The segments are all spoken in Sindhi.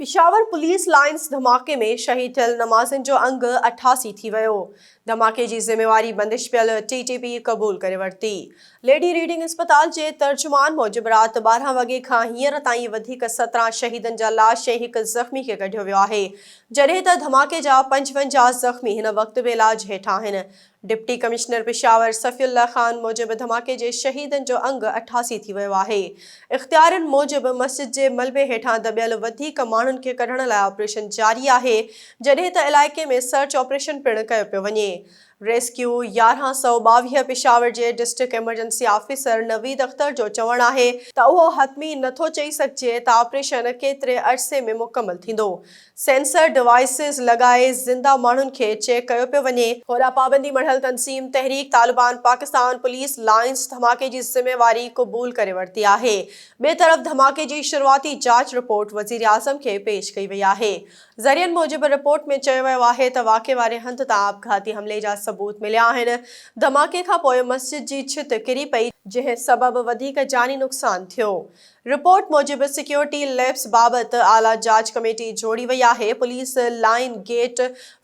پشاور پوليس لائينز ڌماڪي ۾ شهيد ٿيل نمازين جو انگ اٺاسي ٿي ويو، ڌماڪي جي ذميواري بندش پيل ٽي ٽي پي قبول ڪري ورتي. ليڊي ريڊنگ اسپتال جي ترجمان موجب رات ٻارهن وڳي کان هينئر تائين وڌيڪ سترهن شهيدن جا لاش ۽ هڪ زخمي کي ڪڍيو ويو آهي جڏهن ته ڌماڪي جا پنجونجاهه زخمي هن وقت به علاج هيٺ آهن ڊپٽي ڪمشنر پشاور صفي الله خان موجب ڌماڪي جي شهيدن جو انگ اٺاسي ٿي ويو آهي. اختيارين موجب مسجد جي ملبي هيٺان دٻيل وڌيڪ ماڻهن کي ڪڍڻ لاء آپريشن جاري آهي جڏهن ته علائقي ۾ سرچ آپريشن پڻ ڪيو پيو وڃي. ريسڪيو يارهن سؤ ٻاويهه پشاور جي district emergency officer Naveed Akhtar جو چوڻ آهي ته اهو حتمي نٿو چئي سگهجي ته آپريشن ڪيتري عرصي ۾ مڪمل ٿيندو سينسر ڊوائسز لڳائي زنده ماڻهن کي چيڪ ڪيو پيو وڃي. هوڏا پابندي مڙهيل تنظيم تحريڪ طالبان پاڪستان پوليس لائينز ڌماڪي جي ذميواري قبول ڪري ورتي آهي. ٻئي طرف ڌماڪي جي شروعاتي جاچ رپورٽ وزيراعظم کي پيش ڪئي وئي آهي. ذريعن موجب رپورٽ ۾ چيو ويو آهي ته واقعي واري هنڌ تان آپگهاتي حملي جا ثبوت مليا آهن. ڌماڪي کانپوء مسجد جي ڇت ڪري پئي، جنهن سبب وڌيڪ جاني نقصان ٿيو. رپورٽ موجب سيڪيورٽي ليپس بابت اعليٰ جاچ ڪميٽي جوڙي وئي آهي، police line gate,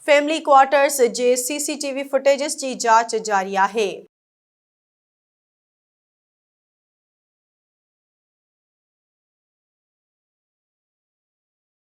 family quarters جي C C T V footages جي جاچ جاري آهي.